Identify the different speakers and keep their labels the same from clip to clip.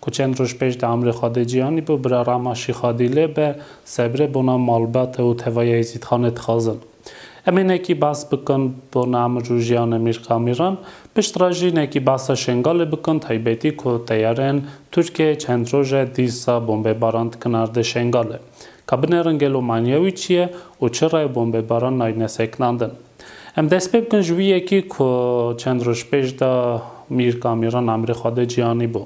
Speaker 1: Ku çend roj pêş di amrê xwe de cîyanî bû, bira Rama Şîxadî lê be, sebre bona malbate û tevaya Êzîdxanê dixwazin. Em hinekî behs bikin bona emir û jîyana Mîr Kamîran, pişt re jî hinekî behsa Şengalê bikin, taybetî ku teyareyên Tirkiyeyê çend roj e dîsa bombebaran dikin erdê Şengalê. Ka binerin gelo manîya wî çi ye û çi rayê bombebaran nayîne sekinandin. Em dest pê bikin ji wî yekî ku çend roj pêş de Mîr Kamîran emirê xwe da ciyanî bû.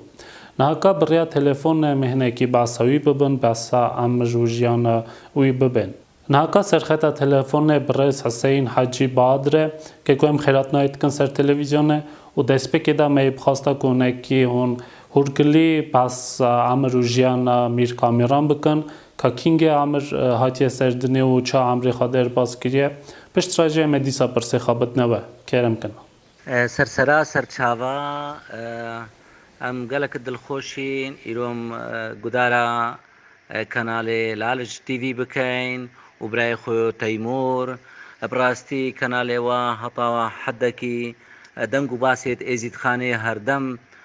Speaker 1: Niha ka bi rêya telefone em ê hinekî behsa wî bibin, behsa em ji jiyana wî bibên. Niha ka serxeta telefonê birêz Hiseyîn Hecî Badir e ke ku em xêratinayê dikin ser televîzyonê û destpêkê de me yê bixwasta ku hinekî hûn hûrgilî behsa emir û jiyana Mîr Kamîran bikin Ka Kîngê Amir hatiye ser dinê û ça Amrê xwe derbas kiriye. Pişt re jê me dîsa pirsê xebitine we. Kerem kena. Ser sera
Speaker 2: ser çava em gelek dilxweş in. Îro em gudara kanalê Lalic TV bikein û birayê xwe Teymur. Bi rastî kanalê we heta heddekî deng û basê di Êzîdxanê herdem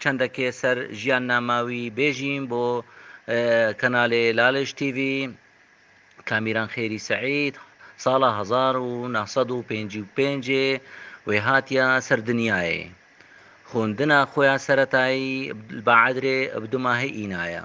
Speaker 2: Çendekê ser jiyannama wî bêjîm bo kanalê Laliş TV, Kamîran Xêrî Seîd sala hezar û neh sed û pêncî û pêncê wê hatiya ser dinyayê. Xwindina xwe ya seretayî li Baedrê bi du mahê îna ye.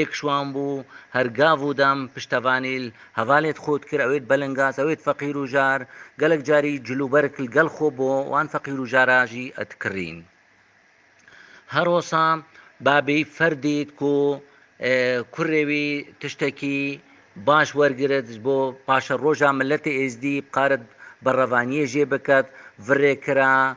Speaker 2: Êk şwan bû, her gav û dem piştevanî li hevalê dixwe dikir, ewê dibelingas, ewê difeqîr û jar, gelek carî cilûberk li gel xwe bo, wan feqîr û jara jî dikirîn. Her osa babî fer dît ku kurê wî tiştekî baş wergirit ji bo paşeroja miletê êzdî bikarit berevaniyê jê biket, virê kira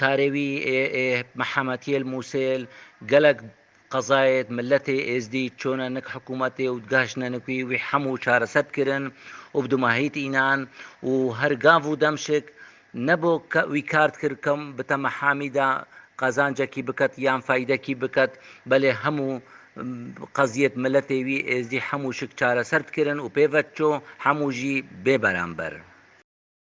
Speaker 2: Karê wî ê Mihemetiyêl Mûsêl gelek qezayêd miletê Êzdî çûne nik hikûmetê û digaşne nik wî wî hemû çareser dikirin û bidumahît înan û her gav û demşik nebo wî kar dikir kom bi temehhamî de qazancekî biket yan feyîdekî biket belê hemû qeziyêd miletê wî Êzdî hemû şik çareser dikirin û pê ve çû hemû jî bêberamber.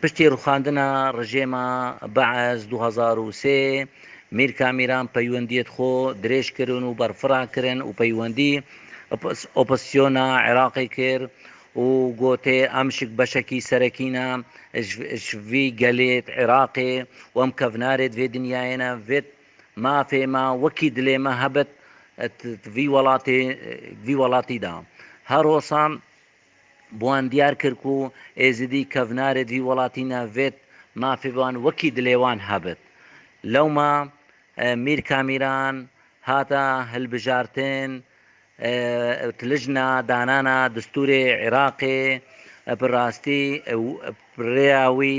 Speaker 2: Piştî rûxandina rejêma Baas du hezar û sê, Mîr Kamîran peywendiyê di xwe dirêj kirin û berfira kirin û peywendî opozîsyona Iraqê kir û gotê em ji beşekî serekî ne ji vî gelê Iraqê û em kevnarê di vê dinyayê ne. Vê mafê me wekî dilê me hebit di vî welatî de. Her hosan Bi wan diyar kir ku Êzidî kevnarê di welatîne vêt mafê bi wan wekî dilê wan hebit. Lewma Mîr Kamîran hate hilbijartin û lijna danana distûrê Iraqê bi rastî û bi rêya wî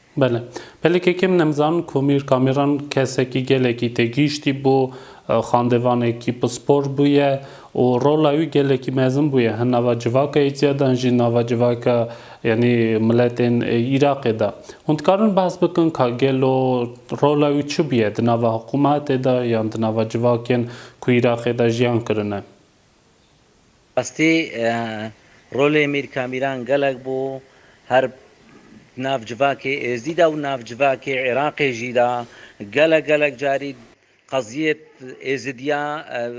Speaker 2: Bele.
Speaker 1: Pelê kekê min em zanin Komîr Kamîran kesekî gelekî têgihiştî bû, xandevanekî pispor bûye û rola wî gelekî mezin bûye hin nava civaka Êziadan jî nava civaka yanî miletên Îraqê de. Hûn dikarin behs bikin ka gelo rola wî çi bûye di nava hikûmetê de yan di nava civakên ku Îraqê de jiyan kirine?
Speaker 2: Bi rastî rolê Mîr Kamîran gelek bû her di nav civakê Êzdî de û nav civakê Iraqê jî de gelek gelek carî qeziyê Êzidiya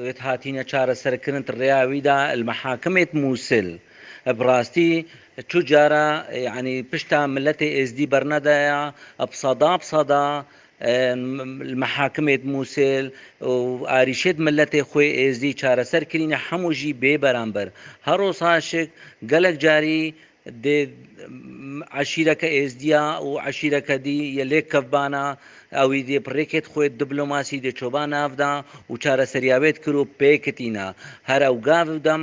Speaker 2: wê hatîne çareserkirin di rêya wî de li mehakimê di Mûsil. Bi rastî çû cara yanî pişta miletê Êzdî bernedaya bi sada bi sada Li mehakimê di Mûsil û arîşê di miletê xwe yê Êzdî çareser kirîne hemû jî bê beramber. Heros Aşik gelek carî dê eşîreke Êzdîya û eşîreke dî yê lêkkevbana ewî dê bi rêkê di xwe diplomasî dê çûba nav da û çareseriya wê dikir û pê kitîna. Her ew gav û dem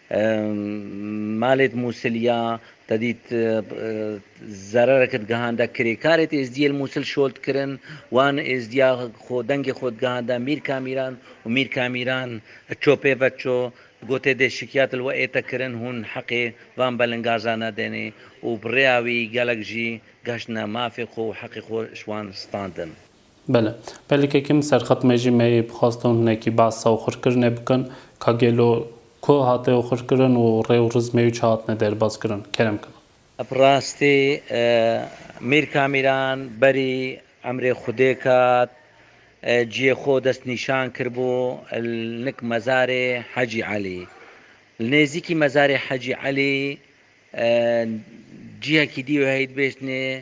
Speaker 2: Malêt Mûsil ya tedî zerereke digihanda kirêkarêt êzdiyê li Mûsil şold kirin. Wan êzdiya xwe dengê xwe digihanda Mîr Kamîran û Mîr Kamîran çopê veço gotê dê şikiyat li we ête kirin hûn heqê van belingaza nedenê û bi rêya wî gelek jî geştine mafê xwe û heqê xwe ji wan standin. Bele.
Speaker 1: Pelîkê ke min serxet me jî me yê bixwastin hinekî behsa oxirkirinê bikin ka gelo ku hate oxirkirin û rê û rizmê wî çi hatine derbazkirin. Kerem kena. Bi rastî
Speaker 2: Mîr Kamîran berî emrê Xwedê kat, ciyê xwe destnîşan kiribû li nik mezarê Hecî Elî. Li nêzîkî mezarê Hecî Elî cihekî dî wê hey dibêjtinê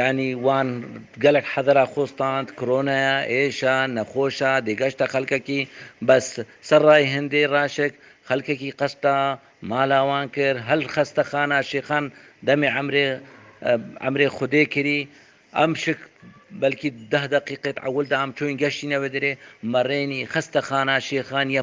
Speaker 2: Yanî wan gelek hedera xwe stand, kironeya, êşa, nexweşa, dêgeşta xelkekî, bes serrayê hindê raşik xelkekî qesta mala wan kir, hel xestexana şêxan demê emrê emrê xwedê kirî, em şik belkî deh deqîqê ewil de em çûyîn geştîne wê derê, merênî xestexana şêxan ye.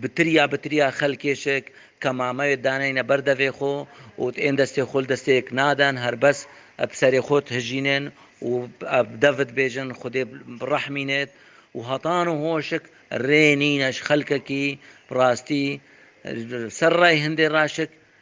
Speaker 2: Bi tiriya bi tiriya xelkêşik kemameyê daneyne ber devê xwe û ên destê xwe li destê yek nadin, herbes bi serê xwe dihijînin û bi dev dibêjin Xwedê birehmînit û hetan û hoşik rê nîne ji xelkekî bi rastî ser rey hindê raşik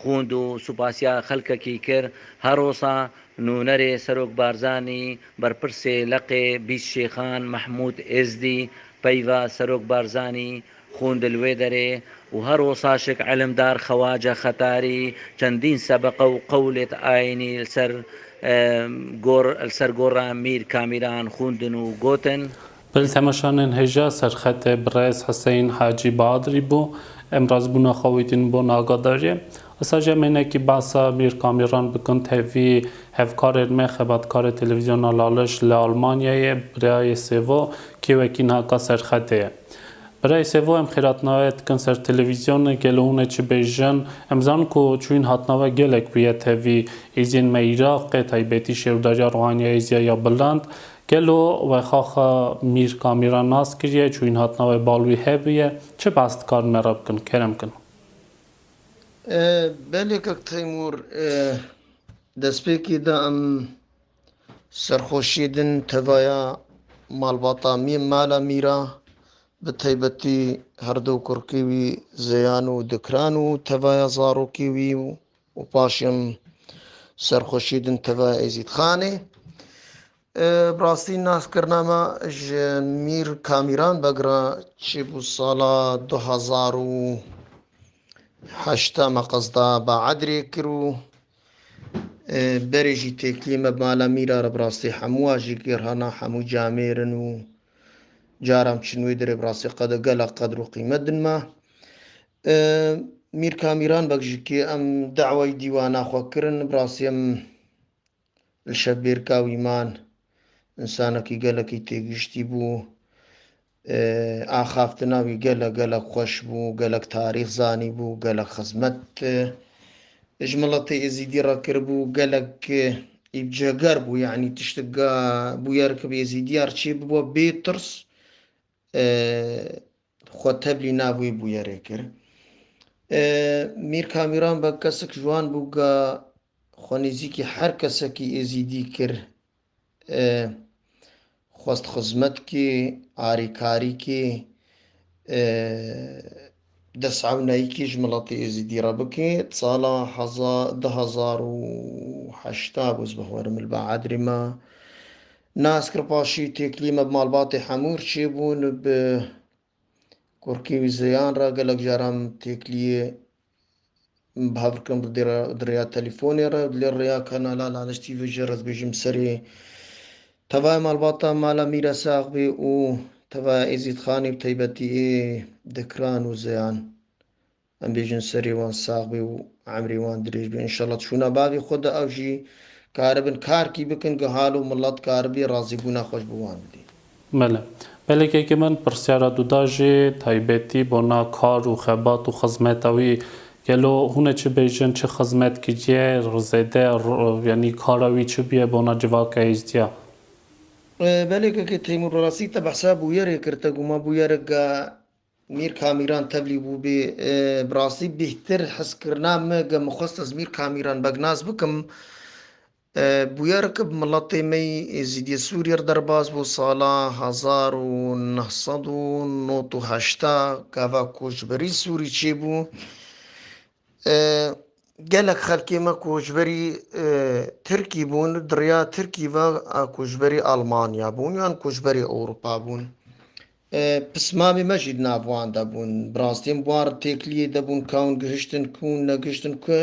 Speaker 2: Xwûnd û supasiya xelkekî kir, Herosa nûnerê Serok Barzanî, berpirsê Leqê Bîst Şêxan Mehmûd Êzdî peyva Serok Barzanî xwûnd li wê derê û herosa şik îlimdar Xewace Xetarî çendîn sebeqe û qewlêt ayînî li ser li ser gora Mîr Kamîran xwûndin û gotin, Bi li temeşanên
Speaker 1: hêja serxetê bi rêz Hiseyin Hacî Badirî bû, em razibûna xwe wî din bûn agadariyê. Esa jî em ênekî behsa Mîr Kamîran bikin tevî hevkarên me xebatkarê Televîzyona Laliş li Almanyayê Birayê Sêvo kê wekî niha ka serxetê ye. Birayê Sêvo em xêratnaweyê dikin ser televîzyonê gelo hûn ê çi bêjin? Em dizanin ku çûyîn hatina we gelek bûye tevî êziyên me Iraqê taybetî Şêwdariya Rûhaniyayê Ziya ya Bilind, Gelo wexaxa Mîr Kamîran nas kiriye, çûyîn hatina wê bal wî hebûye, çi behs dikarin me re bikin, kerem bikin?
Speaker 3: Belê kak Teymûr, destpêkê de em serxweşiyê din tevaya malbata Mî mala Mîr a, bi taybetî herdu kurkê wî Zeyan û Dikran û tevaya zarokê wî û û paşim serxweşî din teve Êzîdxanê. Bi rastî naskirina me ji Mîr Kamîran Begra çi bû sala du hezar û heşta me qezda Baedirê kir û berê jî têkilî me mala Mîra re bi rastî hemû a jî girhana hemû camêrin û caram çin wê dirê bi rastî qede gelek qedir û qîmet din me. Mîr Kamîran Begjikê em dawayî dîwana xwe kirin. Bi rastî em li Şebêrka wî man. Însanekî gelekî têgihiştî bû. Axaftina wî gelek gelek xweş bû. Gelek tarîx zanîbû. Gelek xizmet ji miletê Êzîdî re kiribû. Gelek îbceger bû. Yanî tiştik bûyer ki bi Êzîdiya re çê bibe bê tirs xwe tevlî nav wê bûyerê kir. Mîr Kamîran be kesek ji wan bû ga xwe nêzîkî her kesekî êzîdî kir, xwest xizmet kê, arêkarî kê, destewnaykî ji miletê êzîdî re bike. Sala du hezar û heşt bû ez bixwerim li Baadrê me Naskir Paşî Têklîme bi malbatê Hemûr çêbûn bi kurkî wî zeyan re gelek caran têklîyê bi hev dikin bi rêya telîfonê re û lê rêya kanala Laleş TV jî rez bêjim serê tevaya malbata Mala Mîra Saxbê û tevaya Êzîdxanê bi teybetî ê dikiran û zeyan. Em bêjin serê wan sax bê û emrê wan dirêj bê. Înşallah çûna bavê xwe de ew jî karibin karkî bikin ku hal û milet karibî razîbûna xwe ji bo wan bidê. Bele.
Speaker 1: Pelekeke min pirsyara tu da jê taybetî bona kar û xebat û xizmeta wî. Gelo hûn ê çi bêjin çi xizmet kiriye zêde yanî kara wî çi bûye bona civaka hêzdiya?
Speaker 3: Pelekeke Teymûr bi rastî te behsa bûyerê kir te guma bûyereke Mîr Kamîran tevlî bû bê. Bi rastî bîhtir heskirina me ge min xwest ez Mîr Kamîran begnas bikim. Bûyer ke bi miletê me yî Êzîdiyê Sûrîye re derbas bo salan hezar û neh sed û nod û heşta gava koçberî Sûrî çêbû. Gelek xelkê me ku ji berî Tirkî bûn, di riya Tirkî ve ku ji berî Almanya bûn yan ku ji berî Ewropa bûn. Pismamê me jî di nav wan de bûn. Bi rastî em wan têkiliyê de bûn ka hûn gihiştin ku hûn negihiştin ku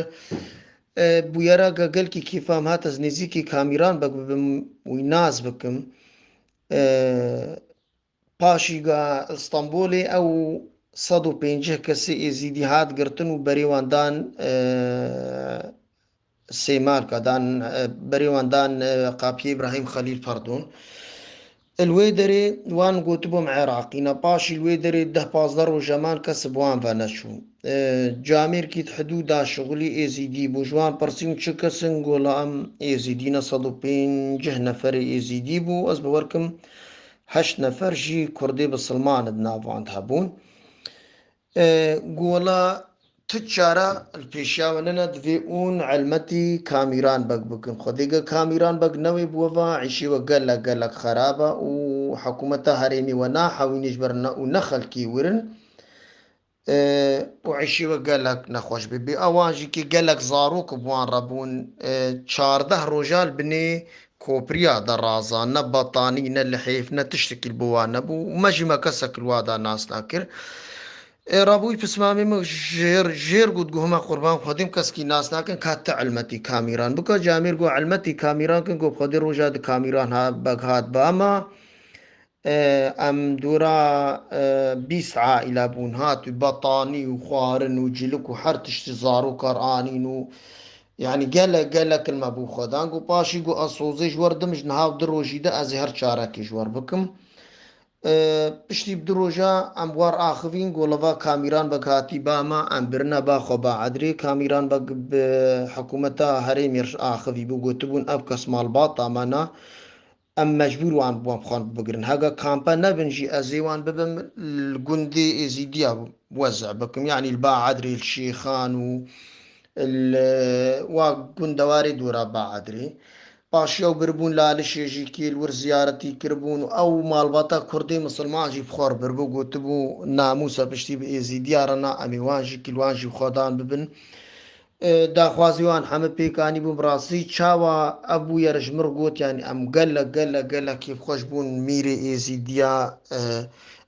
Speaker 3: bûyera ka gelkî kêfa em hat ez nêzîkî Kamîran bek bibim wî nas bikim. Paşîga Stenbolê ew sed û pêncîh kesê Êzîdî hat girtin û berê wan dan Sêmarka dan berê wan dan Qapiyê Îbrahîm Xelîl pardon. Li wê derê wan gotibû em Iraqî ne. Paşî li wê derê deh pazdeh roje man kes bi wan ve neçû. Camêrkî di hidûda Şixulî Êzîdî bû. Ji wan pirsîm çi kes in gola em Êzîdî ne sed û pêncîh neferê Êzîdî bû. Ez bi wer kim Heşt nefer jî Kurdê bi Silmani di nav wan de hebûn. Gola tu çara li pêşiya we nene divê ûn elmetî Kamîran Beg bikin. Xwedê ge Kamîran Beg newê bi we va îşê we gelek gelek xerab e û hikûmeta herêmê we nahewînê ji ber ne û ne xelkê wir in. û eşî we gelek nexweş bûbû. Ewan jî kê gelek zarok û bi wan re bûn. Çardeh roja li binê kopiriya de razan. Ne betanî, ne lihêf, ne tiştekî li bo wan nebû û me jî me kesek li wa de nas nakir. Rabûyî pis mamê min jêr jêr got, Guh me qurban xwedê min kesekî nas nakin ka ti elmetî kamîran bika. Camêr got, Elmetî kamîran kin got xwedê roja di kamîran hat beg hat ba ma. Em dûra bîst aîle bûn. Hatû betanî û xwarin û cilik û her tiştî zarokar anîn û yanî gelek gelek in me bo xwe dan. Got paşî got ez sozê ji wer didim ji niha û du rojî de ez ê her çarekê ji wer bikim. Piştî bi du roja em war axivîn got li va kamîran bek hatî ba me em birine ba xwe ba edrê. Kamîran bek bi hikûmeta herêmê re axivî bû gotibûn ev kes malbata me ne Em mecbûr wan bûn xwe li bigirin. Hega kampe nebin jî ez ê wan bibim li gundê Êzîdiya wez bikim yanî li ba Edrê li Şêxan û li wa gundewarê dora ba Edrê. Paşî ew biribûn Lalişê jî kê li wir ziyaretî kiribûn û ew malbata kurdê misilman jî bi xwe re biribû gotibû namûsa piştî bi Êzîdiya re na em ê wan jî kî li wan jî xwe dan bibin Daxwazê wan heme pêk anîbûn bi rastî çawa ev bûye re ji min re got yanî em gelek gelek gelek kêfxweş bûn mîrê êzîdiya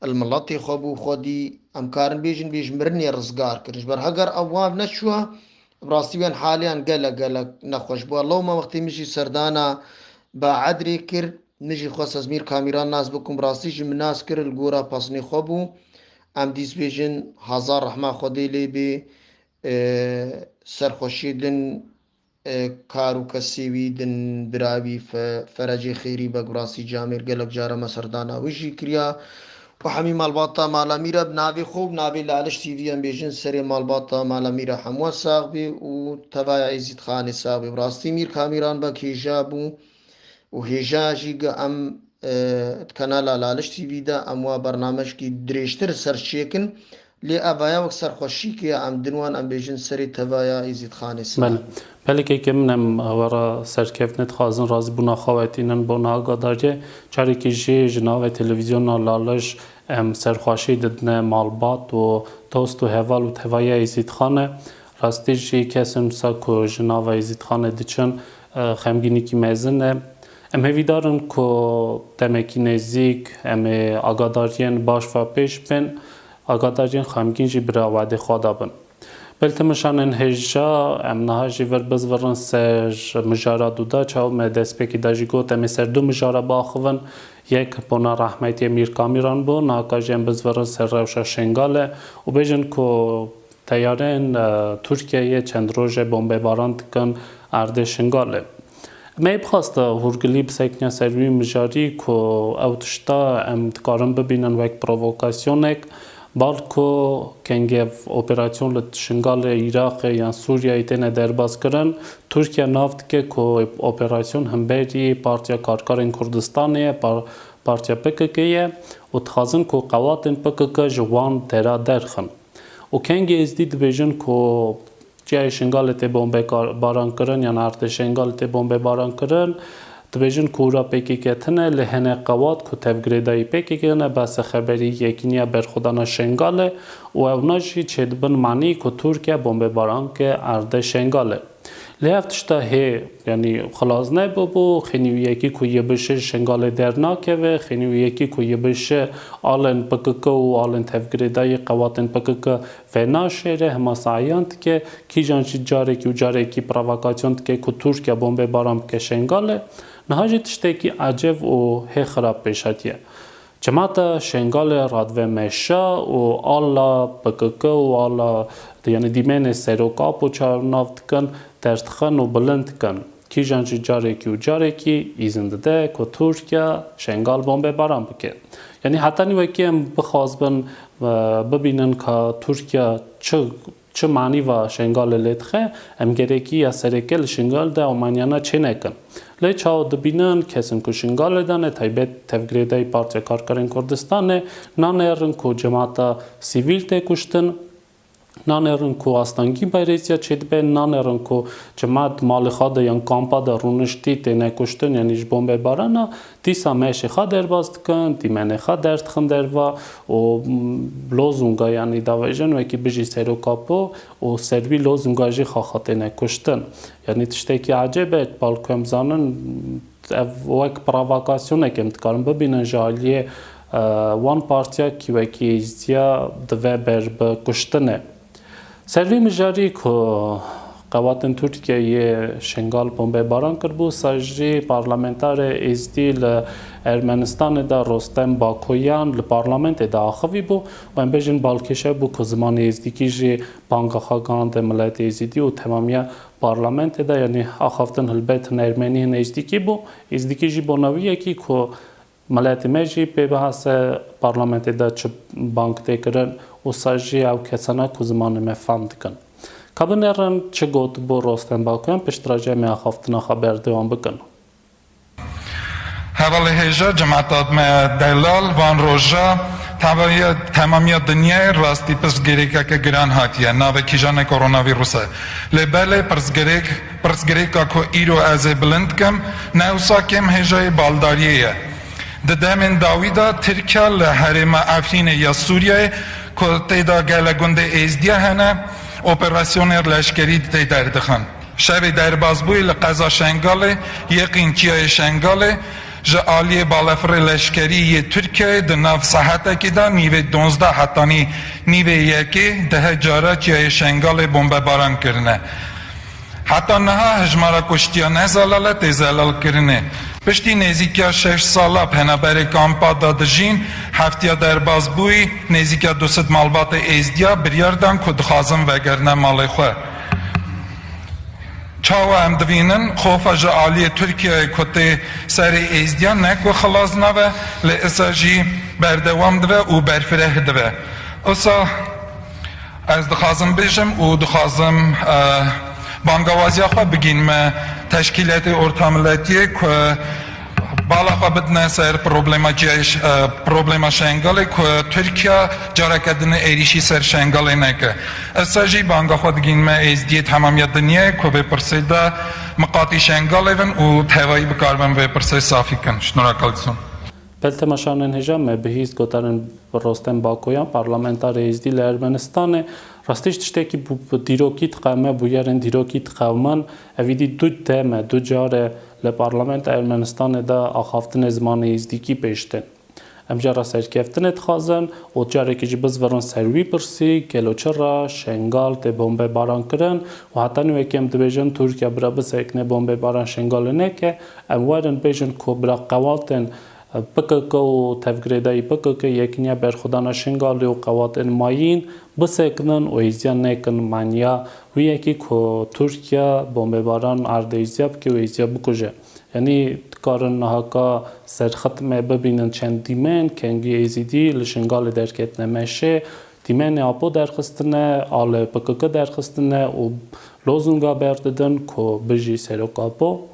Speaker 3: li miletê xwe bû xwedî em karin bêjin bê ji mirinê rizgar kirin ji ber heger ev wan neçûya bi rastî wan haliyan gelek gelek nexweş bûya lewma wextê min jî serdana baedrê kir min jî xwest ez mîr kamîran nas bikim bi rastî ji min nas kir li gora pasinê xwe bû em dîs bêjin hezar rehma xwedê lê bê Serxweşî din kar û kesî wî din bira wî Ferecê Xêrî be Gurasî Camêr gelek jare me serdana wî jî kiriya û hemî malbata Mala Mîra bi navê xwe û navê li Aliş TV em bêjin serê malbata Mala Mîra hemû sax bê û tevaya Êzîdxanê sax bê. Bi rastî Mîr Kamîran be kêja bû. û hêja jî ga em di kanala Laliş TV de em wa bernamejkî dirêjtir ser çêkin lê eva ya wek serxweşîkê ya em din wan em bêjin serê teva ya Îzîdxanê sima. Belê. Pelekê ke min
Speaker 1: em ava ra serkevtine dixwazin razîbûna xwe wetînin bona agadariyê carekê jî ji navê televîzyona Laliş em serxweşî didine malbat û dost û heval û teva ya Îzîdxanê. Rastî jî kes in wisa ku ji nava Îzîdxanê diçin Xemgînîkî mezin e. Em hêvîdar in ku demekî nêzîk em ê agadariyên baş ve pêş bên, agadariyên xemgîn jî bi rewadê xwe de bin. Beltimişan ên hêja em niha jî vir bizvirin ser mijara Duda Çaw. Me destpêkê de jî got em ê ser du mijara biaxivin. Yek bona rehmetiyê Mîr Kamîran bû. Niha ka jî em bizvirin ser rewşa Şêngale û bêjin ku Teyareyên Tirkiyeyê çend roj e bombebaran dikin erdê Şingalê. Me bi xwest hûrgilî bisekine ser wî mijarî ku ew tişta em dikarin bibînin wek provokasyonek, bal ku kengev operasyon li Şingalê, Îraqê yan Sûriyeyê têne derbazkirin, Tirkiye nav dike ku operasyon himberî Partiya Karkerên Kurdistanê ye, partiya PKK'ê ye û dixwazin ku qewatên PKK ji wan dera derxin. û kengî êzdî dibêjin ku çiyayê Şingalê tê bombebarankirin yan artê Şengalê tê bombebarankirin, dibêjin ku ûra pkk tine lê hinek qewat ku tevgirêdayî pkk ne bese xeberî Yekîniya Berxwedana Şengalê û ewna jî çêdibin manî ku Tirkiye bombebaranke ardê Şengalê. Lê ev tişta hê yanî xilas nebe bo, xênîwiyekî ku yê bişe ji Şengalê dernakeve, xênîwiyekî ku yê bişe alên pkk û alên tevgirêda yê qewatên pkk venaşêre, hema saiyan dike, kîjan jî carekî û carekî provakasyon dike ku Tirkiye bombeyê baran bike Şengalê. Niha jî tiştekî ecev û hê xirab pêş hatiye. Cemata Şengalê Radve Meşa û ala pkk û ala yanî dîmenê Serok Apo çar nav dikin, ders dixin û bilind dikin. Kîjan jî carekî û carekî îzin dide ku Tirkiye Şengal bombebaran bike. Yanî heta nî wekî em bixwazibin bibînin ka Tirkiye çi Çi manî va Şengalê lê dixe? Em gerekî ya sereke li Şingal de amanyana çê nekin. Lê çawa dibînin kesên ku Şingalê de ne taybet tevgirêdayî Partiya Karkerên Kurdistanê nanêrin ku cemata sivîl tê kuştin, nanêrin ku astengî bayrêzîya çê dibe, nanêrin ku cemat di malê xwe de yan kampa de rûniştî têne kuştin yanî ji bombebarana Dîsa meşê xwe derbas dikin, dîmenê xwe derdixin derva û lozunga yanî davêjin wekî Bijî Serokapo û ser wî lozunga jî xaxatêne kuştin. Yanî tiştekî ecêb e, bal ku em zanin ev wek provakasyonekê em dikarin bibînin ji aliyê wan partiya kî wekî êzdiya dive ber bi kuştinê. Ser vê mijarî ku qewatên Tirkiyeyê Şingal bombebaran kiribû, sajî parlamentarê Êzidî li Ermenistanê de Rostem Bakoyan li parlamentê de axivîbû û em bêjin balkêşe bû ku zimanê êzdîkî jî banga xwe gihande miletê êzîdî û temamiya parlamentê de yanî axaftin hilbet hin ermenî hin êzdîkî bû. Êzdîkî jî bona wî ye kî ku Miletê me jî pê bihase parlamentê de çi bang tê kirin û sa jî ew kesan e ku zimanê me fam dikin. Ka binêrin çi gotibû Rostem Baku em piştiraje em ê axaftina xwe berdewam bikin.
Speaker 4: Hevalê hêja cemata me delal van roja temamiya dinyayê rastî pirsgirêkeke giran hatiye navê kîjan e koronavîrus e lê belê pirsgirêk Pirsgirêka ku îro ez ê bilind bikim ne ewsa kêm hêjayê baldariyê ye. Di demên dawî de Tirkiya li herêma Efrînê ya Sûriyeyê ku tê de gelek gundê Êzdiya hene, operasyonên leşkerî tê derdixin. Şerê derbasbûyî li qeza Şengalê yê qînçiyayê Şengalê ji aliyê balafirê leşkerî yê Tirkiyeyê di nav sahetekî de nîvê duwazdeh hetanî nîvê yekê deh cara çiyayê Şengalê bombebaran kirine. Heta niha hejmara kuştiyan ne zelale tê zelalkirinê. Piştî nêzîkîya şeş sal a penaberê kampa de dijîn, heftiya derbas bûyî, nêzîkîya du sed malbatê Êzdiya biryar dan ku dixwazin vegerine malê xwe. Çawa em dibînin, xofa ji aliyê Tirkiyeyê ku tê serê Êzdiyan ne ku xilas nabe, lê isa jî berdewam dibe û berfireh dibe. Isa. Ez dixwazim bijim û dixwazim bangawaziya xwe bigîn me teşkîletê ortamilletiyê ku bala xwe bidine ser problema ciyayê problema Şengalê ku Tirkiya careke din êrîşî ser Şengalê neke. Ez sa jî banga xwe digîn me êzdiyê temamiya dinyayê ku vê pirsê de miqatî Şengalê bin û tevayî bikarbin vê pirsê safî kin. Şnûra Kalison. Pil Temaşanên
Speaker 1: Hijab me bihîst gotanên Rostem Bakoyan, parlamentarê Êzdî li Ermenistanê, Rastî ji tiştekî bû bi dîrokî diqewime, bûyerên dîrokî diqewiman, evîdî du dem e, du car e li parlamenta Ermenistanê de axaftinê zimanê Êzdîkî pêş tên. Em jî re serkeftinê dixwazin û carekî jî bizvirin ser wî pirsî, gelo çira Şengal tê bombebarankirin û heta nû yekê em dibêjin Tirkiye bira bisekine bombebaran Şengalê neke, Em werin bêjin ku bila qewatên pkk û tevgirêdayî pkk, Yekîniya Berxwedana Şingalê û qewatên mayîn bisekinin û hêziya nekin manya wî yekî ku Tirkiye bombebaran erd hêziya bike û hêziya bikuje. Yanî dikarin niha ka serxitmê bibînin çend dîmen kengî Êzîdî li Şingalê derketine meşê, dîmenê Apo derxistine, alê pkk derxistine û lozunga berdidin ku Bijî Serok Apo.